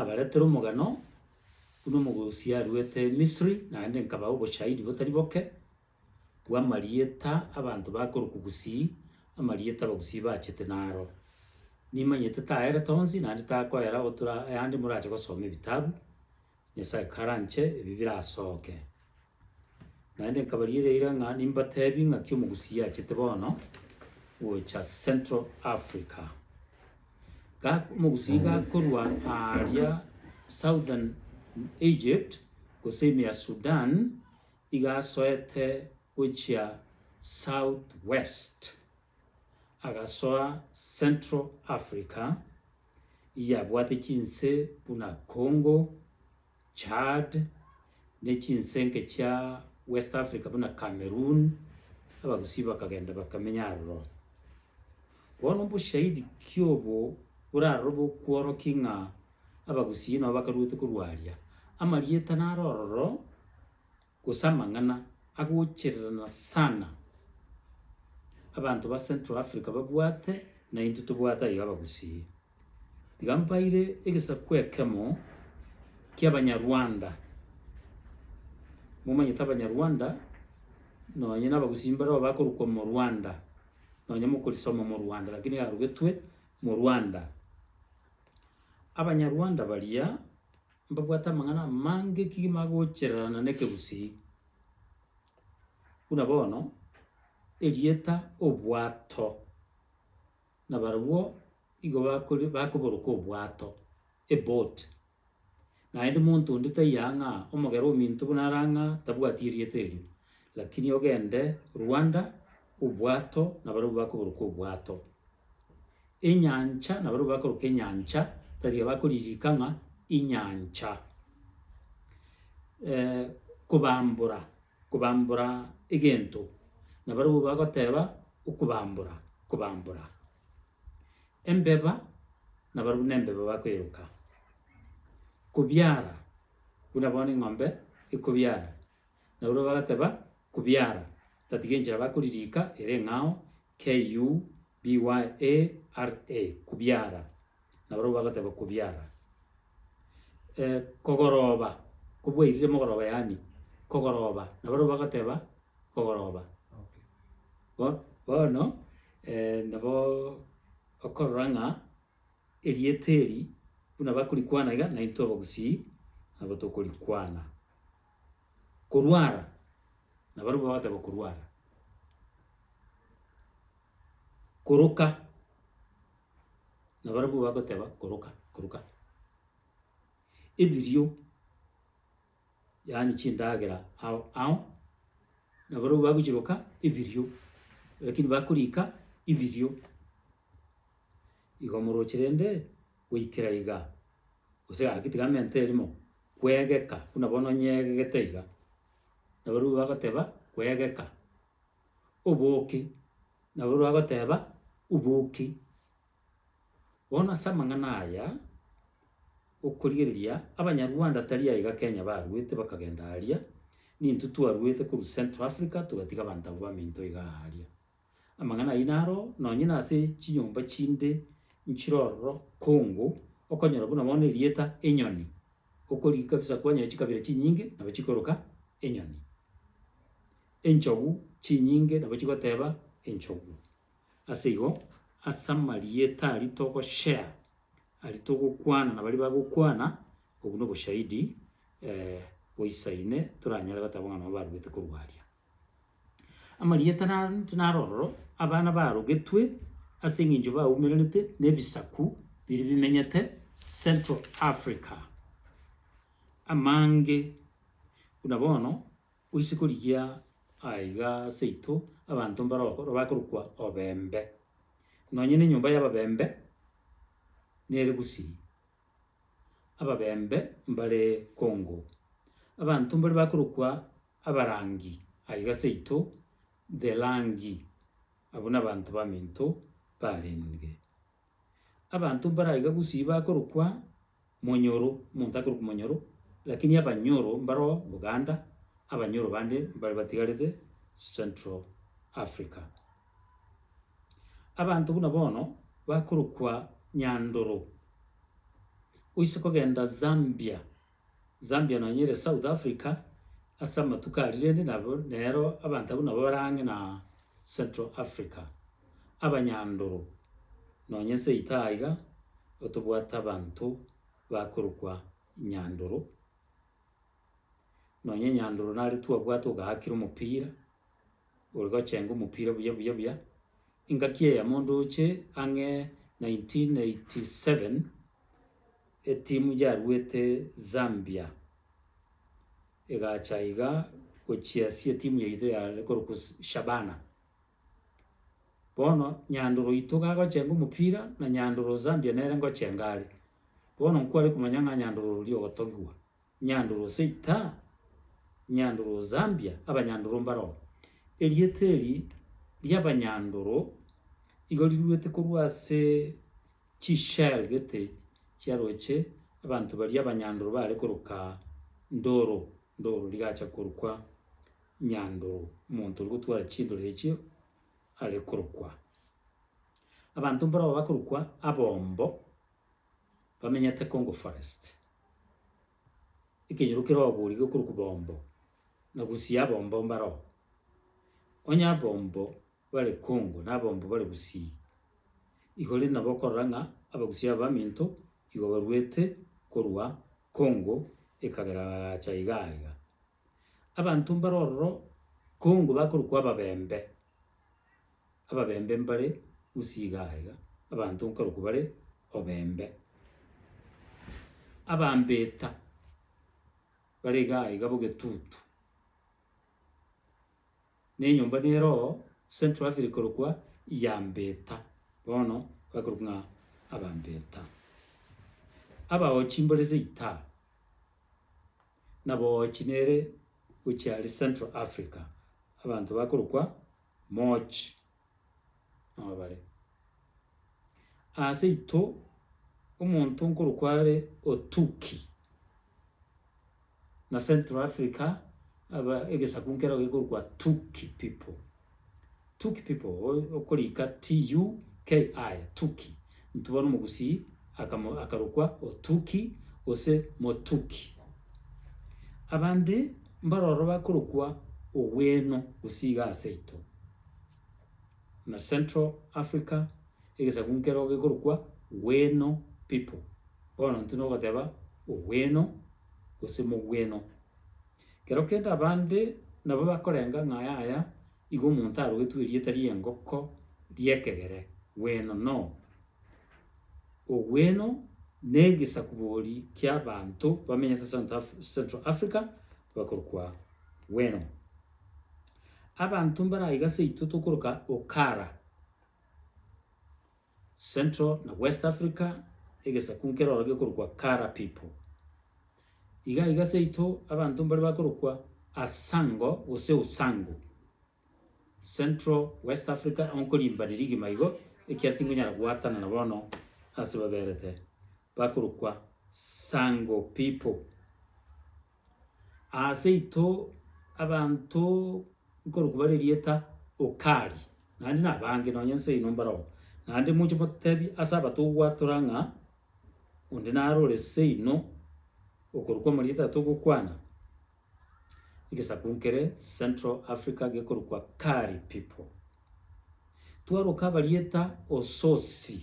nabaretere omogano buna omogosi aruete Misiri, naende nkabaa oboshahidi botari boke bw'amarieta abanto bakorokwa gusii, amarieta abagusii bachete naro. Nimanyete taerete onsi, naende takoera otora ayande morache gosoma ebitabu, Nyasae karanche ebi birasoke. Naende nkabariera eira ng'a nimbateebie ng'aki omogusii achete bono gocha Central Africa. Ga- omogusii gakorwa aaria Southern Egypt, gose ime ya Sudan, iga asoete gochia South West, agasoa Central Africa, yabwate chinse buna Congo, Chad, ne chinsenke chia West Africa buna Cameroon, abagusii bakagenda bakamenya aroro. Bono mboshahidi ki obo borarorobe okworokia ng'a abagusii nao bakaruete korwa aria? Amarieta naro ororo. gose amang'ana agochererana sana abanto ba Central Africa babwate na intwe tobwate aye Abagusii. Tiga mbaire egesaku ekemo ki'Abanyarwanda, momanyete Abanyarwanda nonye na Abagusii mbareo bakorokwa Morwanda, nonye mokorisoma Morwanda lakini yarugetwe Morwanda. Abanyarwanda baria. mbabwate amang'ana amange ki magochererana n'ekegusii, buna bono erieta obwato, na barobwo igo bakori bakoboroka obwato, eboat. Naende monto onde taiyo ang'a omogera ominto buna are ang'a tabwati erieta erio, lakini ogende Rwanda, obwato, nabarobwo bakoboroka obwato. enyancha, nabarabwo bakoroka enyancha, tatiga bakoririka ng'a inyancha. kobambora, kobambora egento, nabarabwo bagoteba okobambora, kobambora. Embeba, nabarabwo nembeba bakoeroka. Kobiara, buna bono eng'ombe ekobiara. Nabarabwo bagateba, Kubiara, tatiga enchera bakoririka ere eng'ao, KUBYARA, kubiara. Nabarabwo bagateba, Kubiara. Eh, kogoroba, kobwairire mogoroba yaani, kogoroba. Nabarabwo bagateba, Kogoroba. Bo- bono nabo okorora ng'a erieta eri buna bakorikwana iga, naintwe abagusii nabo tokorikwana. Korwara, nabarabwo bagateba korwara. Koroka, nabarabwo bagoteba koroka, koroka. Ebirio, yaani chindagera ao ao, nabarabwo bagochiroka ebirio, rakini bakorika ibirio. Igo morooche rende. goikera igaa, gose gaki tiga mente erimo kwegeka buna bono onyegegete iga, nabarabwo bagoteba kwegeka, oboki, nabarabwo bagoteba obuki. Bono ase amang'ana aya, okorigereria abanyarwanda tari aiga Kenya barwete bakagenda aria, nintwe twarwete korwa Central Africa togatiga abanto abwo baminto igaa aria. Amang'ana ayio naro nonye nase chinyomba chinde nchire ororo kongo, okonyora buna bono erieta enyoni, okorigia kabisa kwanyora chikabira chinyinge nabo chikoroka enyoni. Enchogu chinyinge nabo chigoteba enchogu. Ase igo, ase amarieta aria togoshare, aria togokwana na baria bagokwana, obwo na oboshahidi boisaine toranyare goteba buna nabo baruete korwa aria. Amarieta naro intwe naro ororo, abana barogetwe ase eng'encho baumererete na ebisaku biria bimenyete Central Africa. Amange buna bono gose korigia aiga ase yaito abanto mbaro bakorwa bakorokwa obembe, nonye na enyomba y'ababembe nere gusii, ababembe mbare Congo. Abanto mbare bakorokwa. abarangi aiga seito the rangi abwo nabanto baminto barenge. Abanto mbare aiga gusii bakorokwa monyoro omonto akorokwa monyoro lakini abanyoro mbaro buganda abanyoro bande mbare batigarete central africa. Abanto buna bono bakorokwa nyandoro oise kogenda zambia Zambia nonye ere South Africa ase amatuko aria rende nabo nero abanto abwo nabo bare ang'e na Central Africa. Abanyandoro nonye nse yaito aiga igo tobwate abanto bakorokwa Nyandoro, nonye Nyandoro nare twabwate ogaakire omopira, ore gochenga omopira buya buya buya. Engaki eyemo ndoche ang'e nineteen eighty seven. Etimu yaruete Zambia egacha iga gochiasia etimu yaito yare korokwa Shabana. Bono Nyandoro oito gagochenga omopira na Nyandoro Zambia nere ngochenga are. Bono nkware komanya ng'a Nyandoro oria ogotogigwa. Nyandoro Seita, Nyandoro Zambia, abanyandoro mbaroo. Erieta eri ri'abanyandoro igo riruete korwa ase chishell gete chiaroche abanto baria abanyandoro baare koroka Ndoro, Ndoro rigacha korokwa Nyandoro, omonto ore gotwara chindoro echio are korokwa. Abanto mbaroo bakorokwa abombo, bamenyete Congo Forest, ekenyoro kere oboorigwa ekorokwa Bombo, na Gusii abombo mbare oo. Onye abombo bare Congo na abombo bare Gusii, igo rende nabo okorora ng'a Abagusii aba baminto igo baruete korwa Congo ekagera bagacha igaa iga. Abanto mbare ororo kongo bakorokwa ababembe, ababembe mbare usi igaa iga, abanto nkarokwa bare obembe. Abambeta bare igaa iga b'ogetutu, na enyomba nere oo Central Africa ekorokwa Yambeta, bono bakorokwa ng'a Abambeta. Abaochi mbare seitaha. na Boochi nere gochia aria Central Africa, abanto bakorokwa Mooch nao bare. Aase aito omonto nkorokwa are Otuki, na Central Africa aba egesaku nkero gekorokwa Tuki people. Tuki people okorika TUKI, Tuki. Intwe bono omogusii akamo akarokwa Otuki gose Motuki. Abande mbaroro bakorokwa Ogweno gusii iga aseito. Na Central Africa egesaku nkero gekorokwa Gweno people. Bono intwe nogoteba Ogweno gose Mogweno. Kero kende abande nabo bakorenga ng'a yaya igo omonto arogetwe erieta ri'engoko ri'ekegere gweno no ogweno negisakubori ki'abanto bamenyete South Af Central Africa bakorokwa gweno. Abanto mbare aiga seito tokoroka Okara. Central na West Africa, egesaku nkere oro gekorokwa Kara people. Iga iga seito abanto mbare bakorokwa Asango gose Usangu. Central West Africa onkorimbaneria igima igo, ekiara tinkonyara goatana na bono ase baberete, bakorokwa Sango people. Aase ito abanto nkorokwa bare erieta Ukali, naende na abange nonye inse ino mbarabwo, naende moche motebie ase abatogwatora ng'a onde naro ore seino okorokwa amarieta aye togokwana, egesaku nkere Central Africa gekorokwa Kari people. Twaroka abarieta Ososi,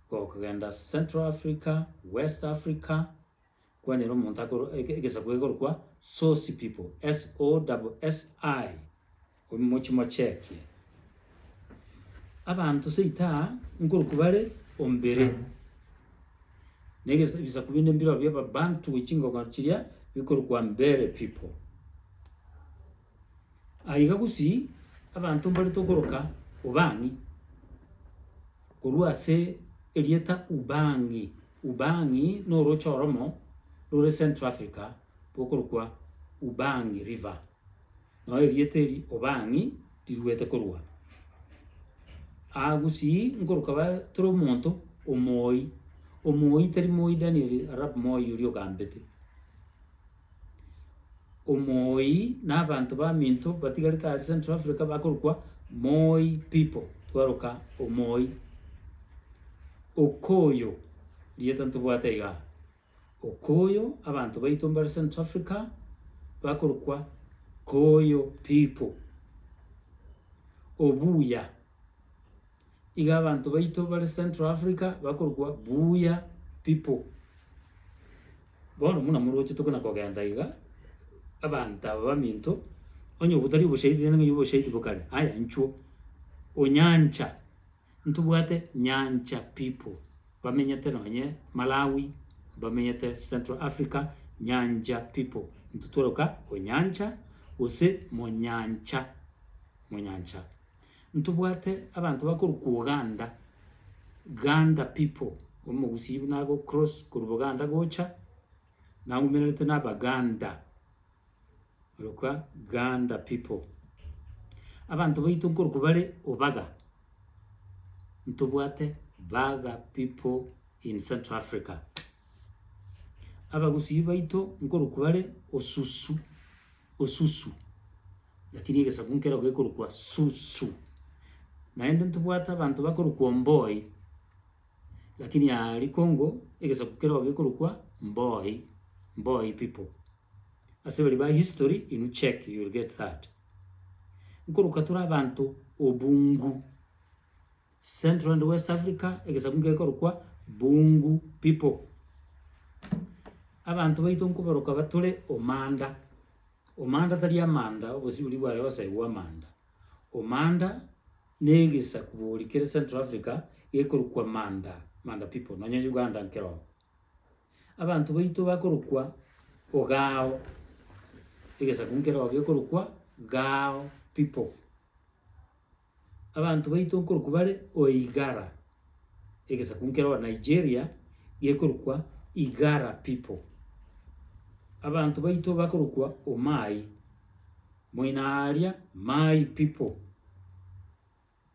gokogenda Central Africa, West Africa, kwanyora omonto akorwa eke- egesaku egekorokwa Sosi people, S-O-double-S-I, omochi mochekie. Abanto seita aa nkorokwa bare ombere, na egesa ebisaku binde mbirobio Ababanto chingoko chiria bikorokwa Mbere people. Aiga gosii, abanto mbare tokoroka Ubang'i, korwa ase erieta Ubang'i, Ubang'i na orooche oromo rore Central Africa rokorokwa Ubang'i River. Nao erieta eri Ubang'i riruete korwa aa gosii nkoroka bare tore omonto omooi, omooi tari mooi Daniel Arap Moi oria ogambete. Omooi na abanto baminto batigarete are Central Africa bakorokwa Moi people, twaroka Omooi. Okoyo, rieta ntobwate iga aa. Okoyo, abanto baito mbare Central Africa bakorokwa Koyo people. Obuya. Iga abanto baito bare Central Africa bakorokwa Buya people. Bono buna morochete buna kogenda iga, abanto aba baminto, onye obotari oboshahidi rende ng'ai oboshahidi bo kare, aya inchuo. Onyancha, ntobwate Nyancha people, bamenyete nonye Malawi, bamenyete Central Africa, Nyancha people. Intwe tworoka Onyancha gose Monyancha, Monyancha. Ntobwate abanto bakorwa kwa Uganda, Ganda people, Omogusii buna ago cross korwa Buganda gocha, naumererete na Abaganda, orokwa Ganda people. Abanto baito nkorwa kwa bare Ubaga, ntobwate Baga people in Central Africa. Abagusii baito nkorokwa bare osusu, osusu, lakini egesaku nkero gekorokwa susu. Naende ntobwate abanto bakorokwa omboi, lakini aria kongo egesaku kero gekorokwa mboi, mboi people. Ase baria ba history inwe check you will get that. Nkorokwa tore abanto obungu, Central and West Africa, egesaku ngekorokwa Bungu people. Abanto baito nkoboroka batore Omanda. Omanda tari Amanda, obosiburi bware osaigwa Amanda. Omanda na egesaku bori kere Central Africa gekorokwa Manda, Manda people, nonya Uganda nkere oo. Abanto baito bakorokwa Ogao, egesaku nkere oo gekorokwa Gao people. Abanto baito nkorokwa bare Oigara, egesaku nkero Nigeria gekorokwa Igara people. Abanto baito bakorokwa Omai, moina aria Mai people.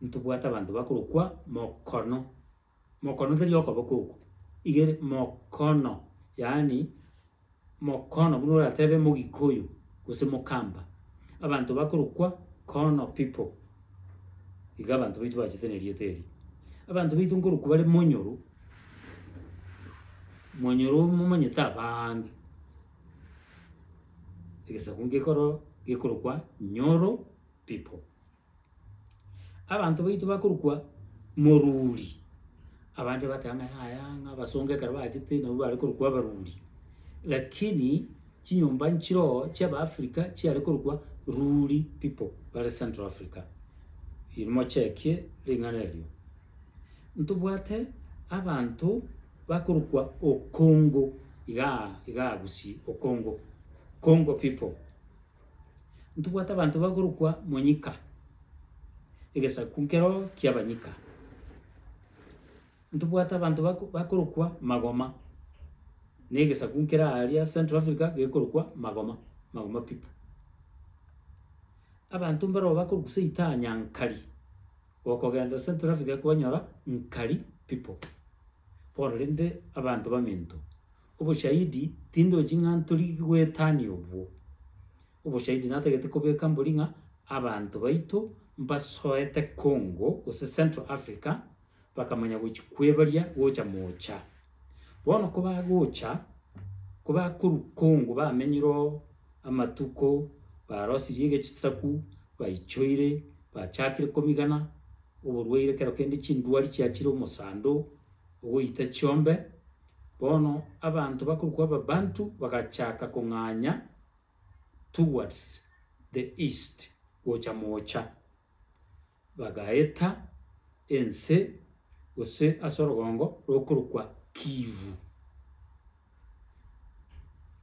Ntobwate abanto bakorokwa Mokono. Mokonokeria okoboko okwo igere mokono, yaani mokono buna oratebe mogikoyo gose mokamba. Abanto bakorokwa kono people, iga abanto baito bachete nerieta erio. Abanto baito nkorokwa bare monyoro, monyoro momanyete abaange, egesaku nkekoro gekorokwa nyoro people. Abanto baito bakorokwa moruri, abande bateba ng'a yaya ng'a abasongo ekero bachete nabwo bare korokwa abaruri, lakini chinyomba nchire oo chi'Abaafrika chiare korokwa ruri people bare Central Africa. Erio mochekie ring'ana erio. Ntobwate abanto bakorokwa Okongo, igaa igaa Gusii, Okongo, Kongo people. Ntobwate abanto bakorokwa monyika, egesaku nkero ki'abanyika. Ntobwate abanto bako bakorokwa magoma, na egesaku nkere aria Central Africa gekorokwa magoma, magoma people. Abanto mbaroo bakorokwa seitanya nkari, okogenda Central Africa kwanyora nkari people, bono rende abanto baminto. oboshahidi tindochi ng'a ntori goetania obwo. Oboshahidi natagete kobeka mbori ng'a abanto baito mbasoete Congo gose Central Africa, bakamanya gochi kwebaria gocha mocha. Bono kobagocha, kobakorwa Congo bamenyire oo amatuko, barosirie egechisaku, baichoire, bachakire komigana, oborwaire kero kende chindwari chiachire omosando, ogoita chiombe. Bono abanto bakorokwa Ababantu bagachaka kong'anya towards the east gocha moocha, bagaeta ense gose ase orogongo rokorokwa Kivu.